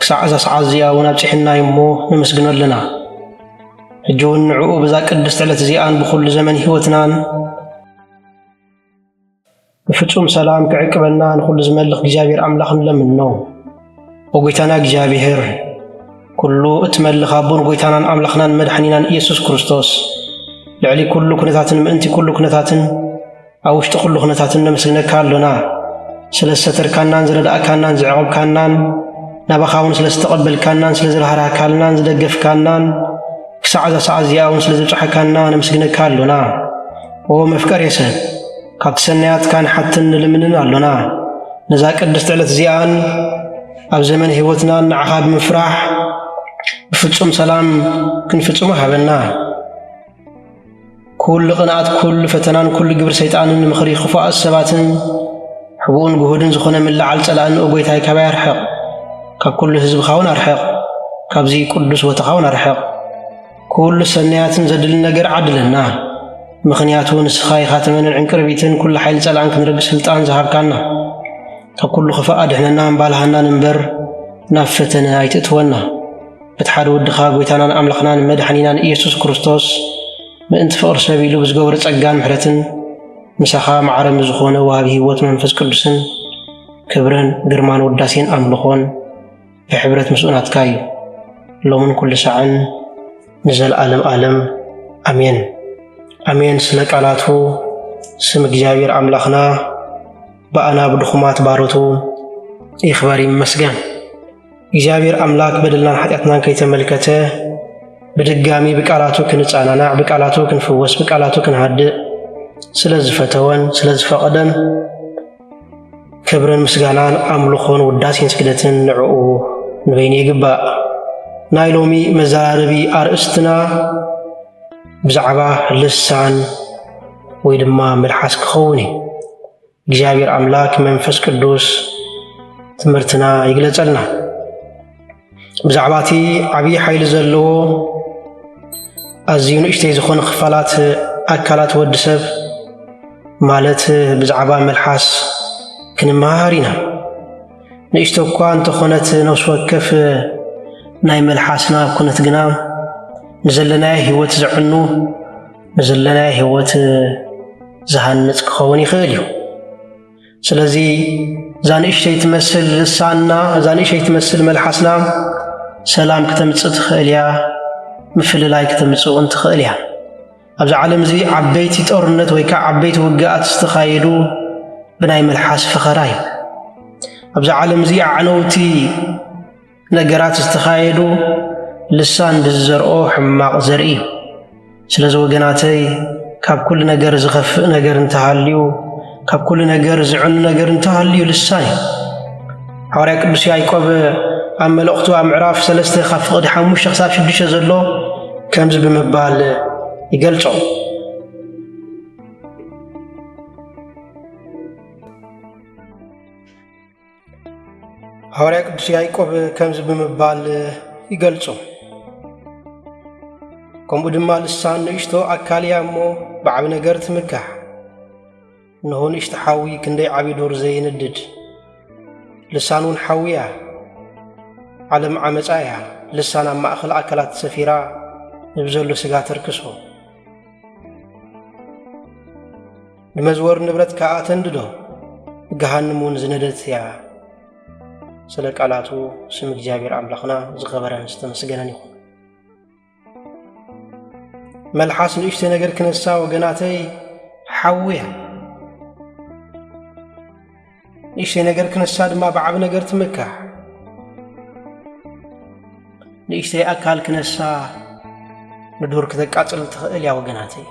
ክሳዕ እዛ ሰዓት እዚኣ እውን ኣብጺሕና እዩ እሞ ነመስግኖ ኣለና። ሕጂ እውን ንዕኡ ብዛ ቅድስቲ ዕለት እዚኣን ብኹሉ ዘመን ህይወትናን ብፍጹም ሰላም ክዕቅበና ንኹሉ ዝመልኽ እግዚኣብሔር ኣምላኽ ንለምኖ። ወጎይታና እግዚኣብሔር ኩሉ እትመልኽ ኣቦን ጎይታናን ኣምላኽናን መድሓኒናን ኢየሱስ ክርስቶስ ልዕሊ ኩሉ ኩነታትን ምእንቲ ኩሉ ኩነታትን ኣብ ውሽጢ ኩሉ ኩነታት እነምስግነካ ኣሎና፣ ስለ ዝሰተርካናን ዝረዳእካናን ዝዕቕብካናን፣ ናባኻ እውን ስለ ዝተቐበልካናን ስለ ዝራህራህካልናን ዝደገፍካናን፣ ክሳዕ እዛ ሰዓት እዚኣ እውን ስለ ዘብጽሓካና ነምስግነካ ኣሎና። ኦ መፍቀሬ ሰብ ካብቲ ሰናያትካ ንሓትን ንልምንን ኣሎና። ነዛ ቅድስቲ ዕለት እዚኣን ኣብ ዘመን ህይወትናን ንዓኻ ብምፍራሕ ብፍጹም ሰላም ክንፍጽሞ ሃበና። ኩሉ ቅንኣት፣ ኩሉ ፈተናን ኩሉ ግብሪ ሰይጣንን ምኽሪ ክፉኣት ሰባትን ሕቡእን ግሁድን ዝኾነ ምልዓል ጸላእን ኦ ጐይታይ ካባይ ኣርሕቕ፣ ካብ ኩሉ ህዝብኻውን ኣርሕቕ፣ ካብዚ ቅዱስ ቦታኻውን ኣርሕቕ። ኩሉ ሰናያትን ዘድሊ ነገር ዓድለና፣ ምኽንያቱ ንስኻ ኢኻ ተመንን ዕንቅርቢትን ኩሉ ሓይሊ ጸላእን ክንርግ ስልጣን ዝሃብካና። ካብ ኩሉ ክፋእ ኣድሕነና እምባልሃናን እምበር ናብ ፈተነ ኣይትእትወና። እቲ ሓደ ወድኻ ጎይታናን ኣምላኽናን መድሓኒናን ኢየሱስ ክርስቶስ ምእንቲ ፍቕሪ ሰብ ኢሉ ብዝገበሮ ጸጋን ምሕረትን ምሳኻ ማዕረ ምዝኾነ ወሃቢ ሕይወት መንፈስ ቅዱስን ክብርን ግርማን ውዳሴን ኣምልኾን ብሕብረት ምስኡ ናትካ እዩ ሎምን ኩሉ ሳዕን ንዘለዓለም ዓለም ኣሜን ኣሜን። ስለ ቃላቱ ስም እግዚኣብሔር ኣምላኽና ብኣና ብድኹማት ባሮቱ ይኽበር ይመስገን። እግዚኣብሔር ኣምላክ በደልናን ሓጢኣትናን ከይተመልከተ ብድጋሚ ብቃላቱ ክንጸናናዕ፣ ብቃላቱ ክንፍወስ፣ ብቃላቱ ክንሃድእ ስለ ዝፈተወን ስለ ዝፈቐደን ክብርን ምስጋናን ኣምልኾን ውዳሴን ስግደትን ንዕኡ ንበይኑ ይግባእ። ናይ ሎሚ መዘራረቢ ኣርእስትና ብዛዕባ ልሳን ወይ ድማ መልሓስ ክኸውን እዩ። እግዚኣብሔር ኣምላክ መንፈስ ቅዱስ ትምህርትና ይግለጸልና ብዛዕባ እቲ ዓብዪ ሓይሊ ዘለዎ ኣዝዩ ንእሽተይ ዝኾነ ክፋላት ኣካላት ወዲ ሰብ ማለት ብዛዕባ መልሓስ ክንመሃሃር ኢና ንእሽቶ እኳ እንተኾነት ነፍሲ ወከፍ ናይ መልሓስና ኩነት ግና ንዘለናዮ ህይወት ዘዕኑ ንዘለናዮ ህይወት ዝሃንጽ ክኸውን ይኽእል እዩ። ስለዚ እዛ ንእሽተይ ትመስል ልሳንና፣ እዛ ንእሽተይ ትመስል መልሓስና ሰላም ክተምጽእ ትኽእል እያ፣ ምፍልላይ ክተምጽእ እውን ትኽእል እያ። ኣብዚ ዓለም እዚ ዓበይቲ ጦርነት ወይ ከዓ ዓበይቲ ውግኣት ዝተኻየዱ ብናይ መልሓስ ፈኸራ እዩ። ኣብዚ ዓለም እዚ ኣዕነውቲ ነገራት ዝተኻየዱ ልሳን ብዝዘርኦ ሕማቕ ዘርኢ እዩ። ስለዚ ወገናተይ ካብ ኩሉ ነገር ዝኸፍእ ነገር እንተሃልዩ ካብ ኩሉ ነገር ዝዕኑ ነገር እንተሃልዩ ልሳን እዩ። ሓዋርያ ቅዱስ ያዕቆብ ኣብ መልእኽቱ ኣብ ምዕራፍ ሰለስተ ካብ ፍቕዲ ሓሙሽተ ክሳብ ሽዱሽተ ዘሎ ከምዚ ብምባል ይገልጾ ሃዋርያ ቅዱስ ያዕቆብ ከምዚ ብምባል ይገልጾ ከምኡ ድማ ልሳን ንእሽቶ ኣካል እያ እሞ ብዓቢ ነገር ትምካሕ እንሆ ንእሽቲ ሓዊ ክንደይ ዓብዪ ዱር ዘይንድድ ልሳን እውን ሓዊ እያ ዓለም ዓመፃ እያ ልሳን ኣብ ማእኸል ኣካላት ሰፊራ ንብዘሎ ስጋ ተርክሶ ንመዝወር ንብረት ከኣ ተንድዶ፣ ገሃንም እውን ዝነደት እያ። ስለ ቃላቱ ስም እግዚኣብሔር ኣምላኽና ዝኸበረን ዝተመስገነን ይኹን። መልሓስ ንእሽተይ ነገር ክነሳ ወገናተይ ሓውያ ንእሽተይ ነገር ክነሳ ድማ ብዓቢ ነገር ትምካሕ ንእሽተይ ኣካል ክነሳ ንዱር ክተቃጽል ትኽእል እያ ወገናተይ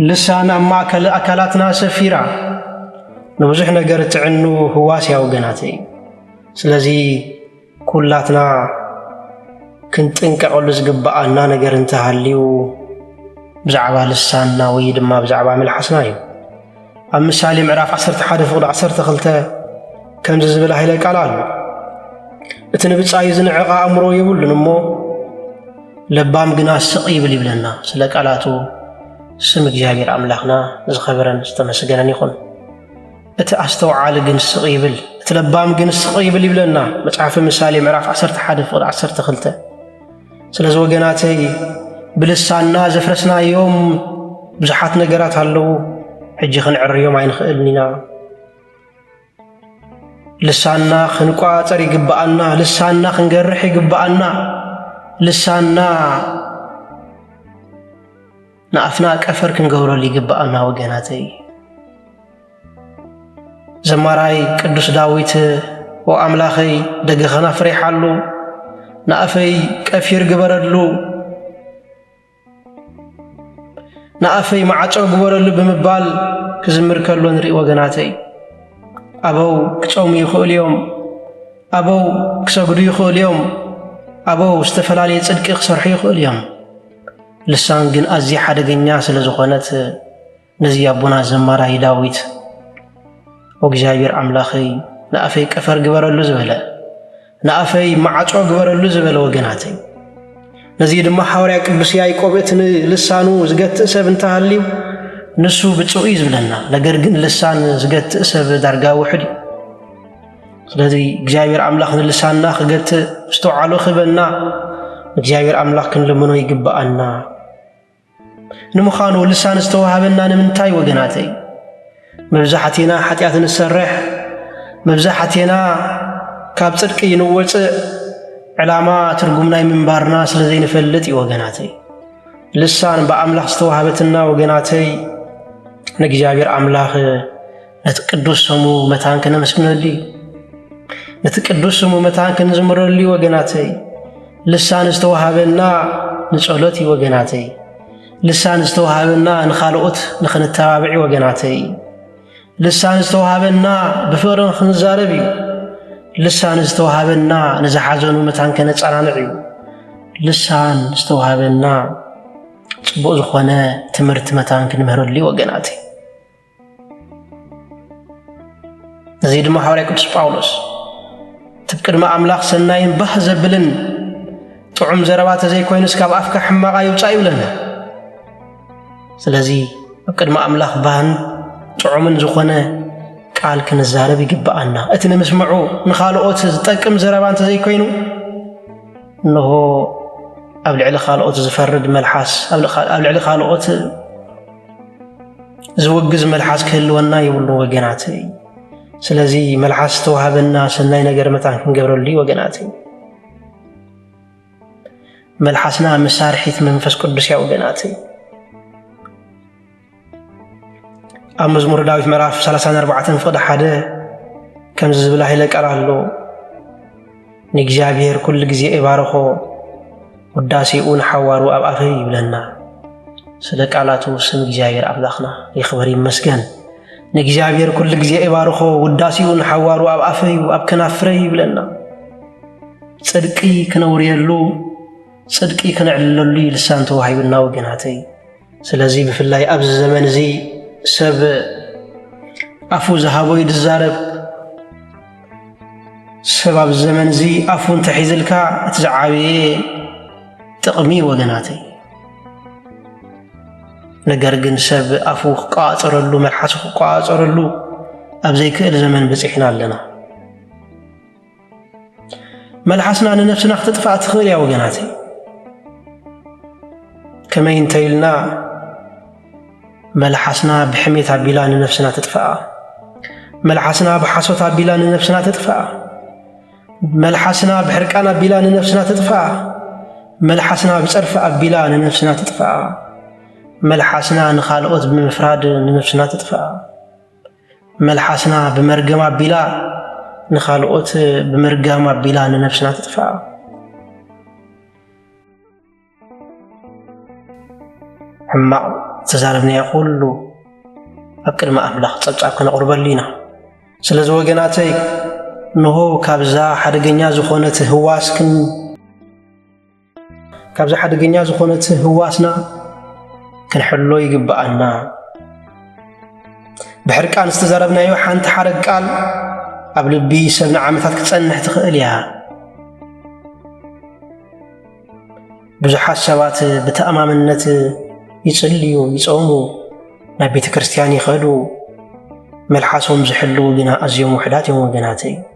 ልሳን ኣብ ማእከል ኣካላትና ሰፊራ ንብዙሕ ነገር እትዕኑ ህዋስያዊ ገናተ እዩ። ስለዚ ኩላትና ክንጥንቀቐሉ ዝግብኣና ነገር እንተሃልዩ ብዛዕባ ልሳንና ወይ ድማ ብዛዕባ መልሓስና እዩ። ኣብ ምሳሌ ምዕራፍ 11 ፍቕዲ 12 ከምዚ ዝብል ሃይለ ቃል ኣሎ እቲ ንብጻዩ ዝንዕቕ ኣእምሮ የብሉን እሞ ለባም ግና ስቕ ይብል ይብለና ስለ ቃላቱ ስም እግዚኣብሔር ኣምላኽና ዝኸበረን ዝተመስገነን ይኹን እቲ ኣስተውዓሊ ግን ስቕ ይብል እቲ ለባም ግን ስቕ ይብል ይብለና መጽሓፊ ምሳሌ ምዕራፍ 11 ፍቕዲ 12 ስለዚ ወገናተይ ብልሳንና ዘፍረስናዮም ብዙሓት ነገራት ኣለዉ። ሕጂ ክንዕርዮም ኣይንኽእልን ኢና። ልሳንና ክንቆጻጸር ይግብኣና። ልሳንና ክንገርሕ ይግብኣና። ልሳንና ንኣፍና ቀፈር ክንገብረሉ ይግብኣና ወገናተይ። ዘማራይ ቅዱስ ዳዊት ኦ ኣምላኸይ ደገ ከናፍር ይሓሉ ንኣፈይ ቀፊር ግበረሉ ንኣፈይ ማዕጾ ግበረሉ ብምባል ክዝምር ከሎ ንርኢ ወገናተይ። ኣበው ክጾሙ ይኽእሉ እዮም፣ ኣበው ክሰግዱ ይኽእሉ እዮም፣ ኣበው ዝተፈላለየ ጽድቂ ክሰርሑ ይኽእሉ እዮም። ልሳን ግን ኣዝያ ሓደገኛ ስለ ዝኾነት ነዚ ኣቦና ዘማራይ ዳዊት እግዚኣብሔር ኣምላኸይ ንኣፈይ ቀፈር ግበረሉ ዝበለ ንኣፈይ ማዕጾ ግበረሉ ዝበለ ወገናተይ ነዚ ድማ ሓዋርያ ቅዱስ ያዕቆብ እቲ ንልሳኑ ዝገትእ ሰብ እንተሃልዩ ንሱ ብፁዕ እዩ ዝብለና ነገር ግን ልሳን ዝገትእ ሰብ ዳርጋ ውሕድ እዩ ስለዚ እግዚኣብሔር ኣምላኽ ንልሳና ክገትእ ምስተውዓሎ ክህበና እግዚኣብሔር ኣምላኽ ክንልምኖ ይግብኣና። ንምዃኑ ልሳን ዝተዋህበና ንምንታይ ወገናተይ? መብዛሕቴና ሓጢኣት ንሰርሕ፣ መብዛሕቴና ካብ ጽድቂ ንወፅእ ዕላማ ትርጉም ናይ ምንባርና ስለ ዘይንፈልጥ እዩ ወገናተይ። ልሳን ብኣምላኽ ዝተዋህበትና ወገናተይ ንእግዚኣብሔር ኣምላኽ ነቲ ቅዱስ ስሙ መታን ክነመስግነሉ እዩ። ነቲ ቅዱስ ስሙ መታን ክንዝምረሉ እዩ ወገናተይ። ልሳን ዝተዋሃበና ንጸሎት እዩ ወገናተይ። ልሳን ዝተዋሃበና ንኻልኦት ንኽንተባብዕ እዩ ወገናተይ። ልሳን ዝተዋሃበና ብፍቕሪ ንኽንዛረብ እዩ። ልሳን ዝተዋሃበና ንዝሓዘኑ መታን ከነጸናንዕ እዩ። ልሳን ዝተዋሃበና ጽቡቕ ዝኾነ ትምህርቲ መታን ክንምህረሉ እዩ ወገናተይ። እዚ ድማ ሓዋርያ ቅዱስ ጳውሎስ እቲ ቅድሚ ኣምላኽ ሰናይን ባህ ዘብልን ጥዑም ዘረባ ተዘይኮይኑስ ካብ ኣፍካ ሕማቓ ይውፃእ ይብለና ስለዚ ኣብ ቅድሚ ኣምላኽ ባህን ጥዑምን ዝኾነ ቃል ክንዛረብ ይግብኣና እቲ ንምስምዑ ንኻልኦት ዝጠቅም ዘረባ እንተዘይኮይኑ እንሆ ኣብ ልዕሊ ካልኦት ዝፈርድ መልሓስ ኣብ ልዕሊ ካልኦት ዝውግዝ መልሓስ ክህልወና የብሉ ወገናት። ስለዚ መልሓስ ዝተዋህበና ሰናይ ነገር መታን ክንገብረሉ እዩ ወገናት። መልሓስና መሳርሒት መንፈስ ቅዱስ እያ ወገናት። ኣብ መዝሙር ዳዊት ምዕራፍ 34 ፍቕዲ ሓደ ከምዚ ዝብል ሃይለ ቃል ኣሎ ንእግዚኣብሔር ኩሉ ግዜ እባርኾ ውዳሴኡ ንሓዋሩ ኣብ ኣፈይ ይብለና። ስለ ቃላቱ ስም እግዚኣብሔር ኣምላኽና ይኽበር ይመስገን። ንእግዚኣብሔር ኩሉ ግዜ እባርኾ ውዳሴኡ ንሓዋሩ ኣብ ኣፈዩ ኣብ ከናፍረይ ይብለና። ጽድቂ ክነውርየሉ ጽድቂ ክነዕልለሉ ልሳን ተዋሂቡና ወገናተይ። ስለዚ ብፍላይ ኣብዚ ዘመን እዚ ሰብ ኣፉ ዝሃቦ እዩ ዝዛረብ። ሰብ ኣብዚ ዘመን እዚ ኣፉ እንተሒዝልካ እቲ ዝዓበየ ጥቕሚ ወገናተይ። ነገር ግን ሰብ ኣፉ ክቋፀረሉ መልሓሱ ክቋፀረሉ ኣብ ዘይክእል ዘመን በፂሕና ኣለና። መልሓስና ንነፍስና ክትጥፋእ ትኽእል እያ ወገናተይ። ከመይ እንተይልና መልሓስና ብሕሜት ኣቢላ ንነፍስና ትጥፍኣ፣ መልሓስና ብሓሶት ኣቢላ ንነፍስና ትጥፍኣ፣ መልሓስና ብሕርቃን ኣቢላ ንነፍስና ትጥፍኣ፣ መልሓስና ብጸርፊ ኣቢላ ንነፍስና ትጥፍኣ፣ መልሓስና ንኻልኦት ብምፍራድ ንነፍስና ትጥፍኣ። መልሓስና ብመርገም ኣቢላ ንኻልኦት ብምርጋም ኣቢላ ንነብስና ትጥፍኣ። ሕማቕ ዝተዛረብናዮ ኩሉ ኣብ ቅድሚ ኣምላኽ ጸብጻብ ክነቕርበሉ ኢና። ስለዚ ወገናተይ እንሆ ካብዛ ሓደገኛ ዝኾነት ህዋስክን ካብዚ ሓደገኛ ዝኾነት ህዋስና ክንሕሎ ይግብኣና። ብሕርቃን ዝተዛረብናዮ ሓንቲ ሓረግ ቃል ኣብ ልቢ ሰብ ንዓመታት ክጸንሕ ትኽእል እያ። ብዙሓት ሰባት ብተኣማምነት ይጽልዩ፣ ይጾሙ፣ ናብ ቤተ ክርስቲያን ይኸዱ፣ መልሓሶም ዝሕልው ግና ኣዝዮም ውሕዳት እዮም ወገናተይ።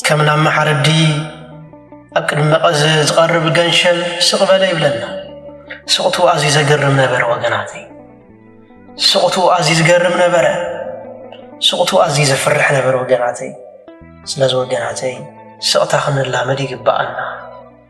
ከም ናብ መሓረዲ ኣብ ቅድሚ መቐዘ ዝቐርብ ገንሸል ስቕ በለ ይብለና። ስቕቱ ኣዝዩ ዘገርም ነበረ ወገናተይ። ስቕቱ ኣዝዩ ዝገርም ነበረ። ስቕቱ ኣዝዩ ዘፍርሕ ነበረ ወገናተይ። ስለዚ ወገናተይ ስቕታ ክንላመድ ይግብኣና።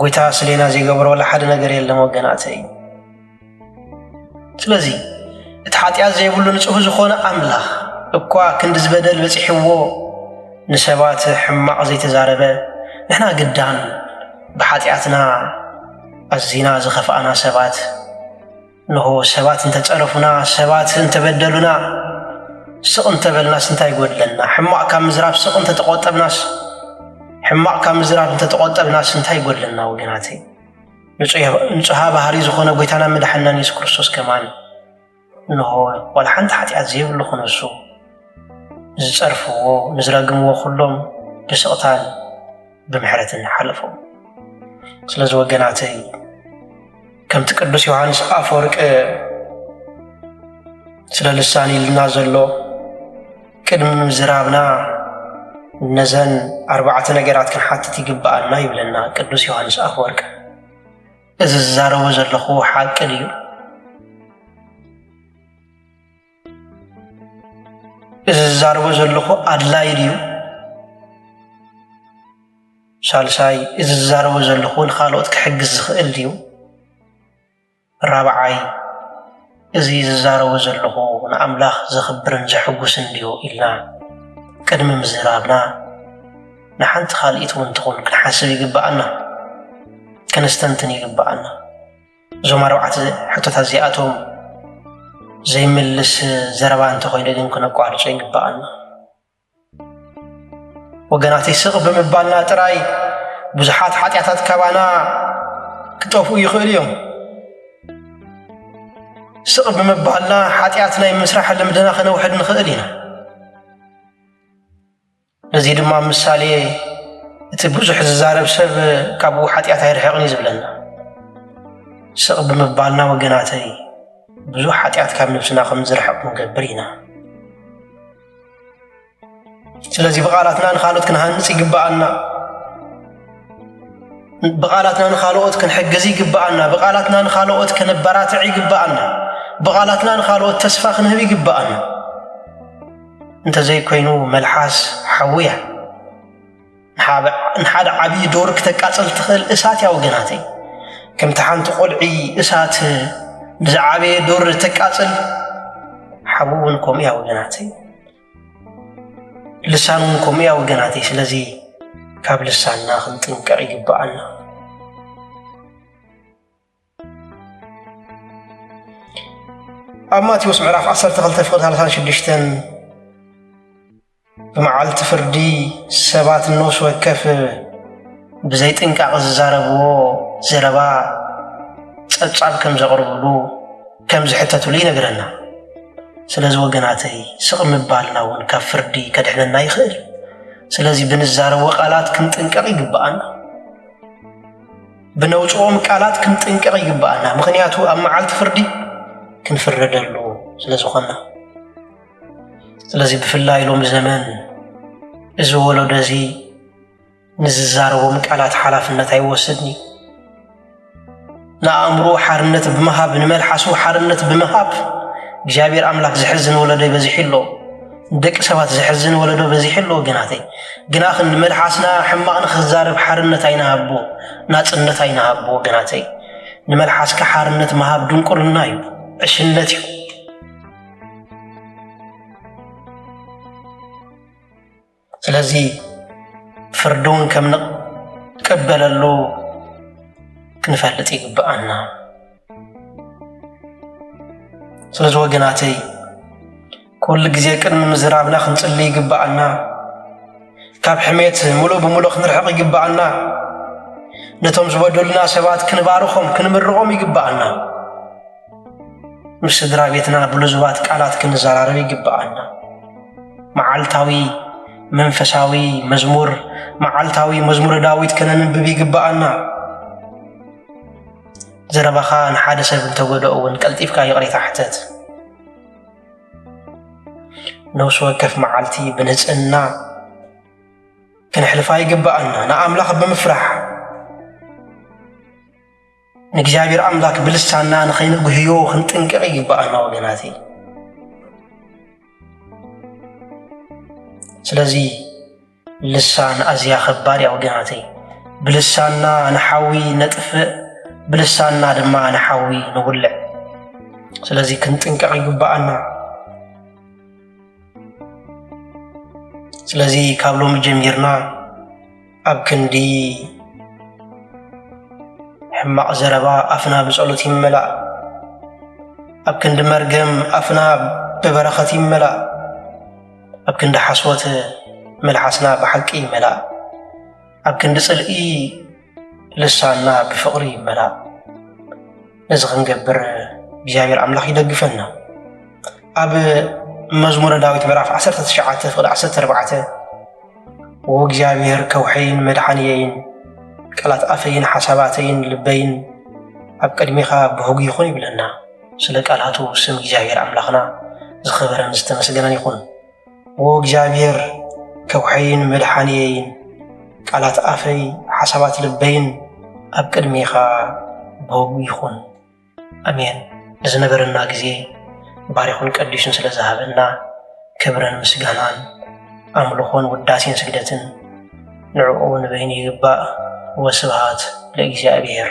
ጎይታ ስሌና ዘይገብሮ ወላ ሓደ ነገር የለን ወገናተይ ስለዚ እቲ ሓጢኣት ዘይብሉ ንጹህ ዝኾነ ኣምላኽ እኳ ክንዲ ዝበደል በፂሕዎ ንሰባት ሕማቕ ዘይተዛረበ ንሕና ግዳን ብሓጢኣትና ኣዚና ዝኸፍኣና ሰባት እንሆ ሰባት እንተ ጸረፉና፣ ሰባት እንተ በደሉና፣ ስቕ እንተ በልናስ እንታይ ይጐድለና? ሕማቕ ካብ ምዝራብ ስቕ እንተ ተቖጠብናስ ሕማቕ ካብ ምዝራብ እንተ ተቖጠብናስ እንታይ ይጐድለና? ወገናተይ ንጹሃ ባህሪ ዝኾነ ጐይታና መድሓናን የሱስ ክርስቶስ ከማን እንሆ ዋላ ሓንቲ ሓጢኣት ዘይብሉ ክነሱ ንዝጸርፍዎ ንዝረግምዎ ኩሎም ብስቕታን ብምሕረት ንሓለፎ ስለዚ ወገናተይ ከምቲ ቅዱስ ዮሃንስ ኣፈወርቂ ስለ ልሳን ኢልና ዘሎ ቅድሚ ምዝራብና ነዘን ኣርባዕተ ነገራት ክንሓትት ይግብኣና ይብለና ቅዱስ ዮሃንስ ኣፈወርቂ እዚ ዝዛረቦ ዘለኹ ሓቂ ድዩ እዚ ዝዛረቦ ዘለኹ ኣድላይ ድዩ? ሳልሳይ እዚ ዝዛረቦ ዘለኹ ንኻልኦት ክሕግዝ ዝኽእል ድዩ? ራብዓይ እዚ ዝዛረቦ ዘለኹ ንኣምላኽ ዘኽብርን ዘሕጉስን ድዩ ኢልና ቅድሚ ምዝራብና ንሓንቲ ካልኢት እውን ትኹን ክንሓስብ ይግብኣና፣ ከነስተንትን ይግብኣና። እዞም ኣርባዕተ ሕቶታት እዚኣቶም ዘይምልስ ዘረባ እንተኾይኑ ግን ክነቋርጾ ይግባኣና። ወገናተይ ስቕ ብምባልና ጥራይ ብዙሓት ሓጢኣታት ካባና ክጠፍኡ ይኽእሉ እዮም። ስቕ ብምባልና ሓጢኣት ናይ ምስራሕ ልምድና ከነውሕድ ንኽእል ኢና። ነዚ ድማ ምሳሌ እቲ ብዙሕ ዝዛረብ ሰብ ካብኡ ሓጢኣት ኣይርሕቕን እዩ ዝብለና። ስቕ ብምባልና ወገናተይ ብዙሕ ሓጢኣት ካብ ነብስና ከም ዝርሕቕ ክንገብር ኢና። ስለዚ ብቓላትና ንኻልኦት ክንሃንጽ ይግብኣና ብቓላትና ንኻልኦት ክንሕግዝ ይግብኣና ብቓላትና ንኻልኦት ከነበራትዕ ይግብኣና ብቓላትና ንኻልኦት ተስፋ ክንህብ ይግብኣና እንተዘይኮይኑ መልሓስ ሓዊ እያ። ንሓደ ዓብዪ ዶር ክተቃጽል ትኽእል እሳት እያ ወገናተይ። ከምቲ ሓንቲ ቆልዒ እሳት ንዝዓበየ ዶር ተቃጽል ሓዊ እውን ከምኡ እያ ወገናተይ። ልሳን እውን ከምኡ እያ ወገናተይ። ስለዚ ካብ ልሳንና ክንጥንቀቕ ይግብኣና። ኣብ ማቴዎስ ምዕራፍ 12 ፍቅዲ 36 ብመዓልቲ ፍርዲ ሰባት ነፍሲ ወከፍ ብዘይ ጥንቃቕ ዝዛረብዎ ዘረባ ጸብጻብ ከም ዘቕርብሉ ከም ዝሕተትሉ ይነግረና ስለዚ ወገናተይ ስቕ ምባልና እውን ካብ ፍርዲ ከድሕነና ይኽእል ስለዚ ብንዛረቦ ቃላት ክንጥንቀቕ ይግብኣና ብነውጽኦም ቃላት ክንጥንቀቕ ይግብኣና፣ ምኽንያቱ ኣብ መዓልቲ ፍርዲ ክንፍረደሉ ስለ ዝኾንና። ስለዚ ብፍላይ ሎሚ ዘመን እዚ ወለዶ እዚ ንዝዛረቦም ቃላት ሓላፍነት ኣይወስድን እዩ። ንኣእምሮ ሓርነት ብምሃብ ንመልሓሱ ሓርነት ብምሃብ እግዚኣብሔር ኣምላክ ዘሕዝን ወለዶ ይበዝሕ ኣሎ። ንደቂ ሰባት ዘሕዝን ወለዶ በዚሑ ኣሎ ወገናተይ። ግናኽን ንመልሓስና ሕማቕ ንኽዛረብ ሓርነት ኣይንሃቦ፣ ናጽነት ኣይንሃቦ ወገናተይ። ንመልሓስካ ሓርነት ምሃብ ድንቁርና እዩ፣ ዕሽነት እዩ። ስለዚ ፍርዲ እውን ከም ንቀበለሉ ክንፈልጥ ይግብኣና። ስለዚ ወገናተይ ኩሉ ግዜ ቅድሚ ምዝራብና ክንጽሊ ይግብኣና። ካብ ሕሜት ምሉእ ብምሉእ ክንርሕቕ ይግብኣና። ነቶም ዝበደሉና ሰባት ክንባርኾም ክንምርቖም ይግብኣና። ምስ ስድራ ቤትና ብልዙባት ቃላት ክንዘራረብ ይግብኣና። መዓልታዊ መንፈሳዊ መዝሙር መዓልታዊ መዝሙረ ዳዊት ከነንብብ ይግብኣና። ዘረባኻ ንሓደ ሰብ እንተጎደኦ እውን ቀልጢፍካ ይቕሬታ ሕተት። ነፍሲ ወከፍ መዓልቲ ብንጽህና ክንሕልፋ ይግብኣና ንኣምላኽ ብምፍራሕ ንእግዚኣብሔር ኣምላክ ብልሳና ንኸይንጉህዮ ክንጥንቅቕ ይግብኣና ወገናት ስለዚ ልሳን ኣዝያ ኸባድ እያ ወገናተይ። ብልሳንና ንሓዊ ነጥፍእ፣ ብልሳንና ድማ ንሓዊ ንውልዕ። ስለዚ ክንጥንቀቕ ይግብኣና። ስለዚ ካብ ሎሚ ጀሚርና ኣብ ክንዲ ሕማቕ ዘረባ ኣፍና ብጸሎት ይመላእ፣ ኣብ ክንዲ መርገም ኣፍና ብበረኸት ይመላእ። ኣብ ክንዲ ሓሶት መልሓስና ብሓቂ ይመላእ ኣብ ክንዲ ጽልኢ ልሳንና ብፍቕሪ ይመላእ ነዚ ክንገብር እግዚኣብሔር ኣምላኽ ይደግፈና ኣብ መዝሙረ ዳዊት ምዕራፍ 19 ፍቕዲ 14 ወእግዚኣብሔር ከውሐይን መድሓንየይን ቃላት ኣፈይን ሓሳባተይን ልበይን ኣብ ቅድሚኻ ብህጉ ይኹን ይብለና ስለ ቃላቱ ስም እግዚኣብሔር ኣምላኽና ዝኸበረን ዝተመስገነን ይኹን። ዎ እግዚኣብሔር ከውሐይን መድሓንየይን ቃላት ኣፈይ ሓሳባት ልበይን ኣብ ቅድሜኻ በጉ ይኹን። ኣሜን። ንዝነበረና ግዜ ባሪኹን ቀዲሱን ስለ ዝሃበና ክብርን ምስጋናን ኣምልኾን ውዳሴን ስግደትን ንዕኡ ንበይኑ ይግባእ። ወስብሃት ለእግዚኣብሔር።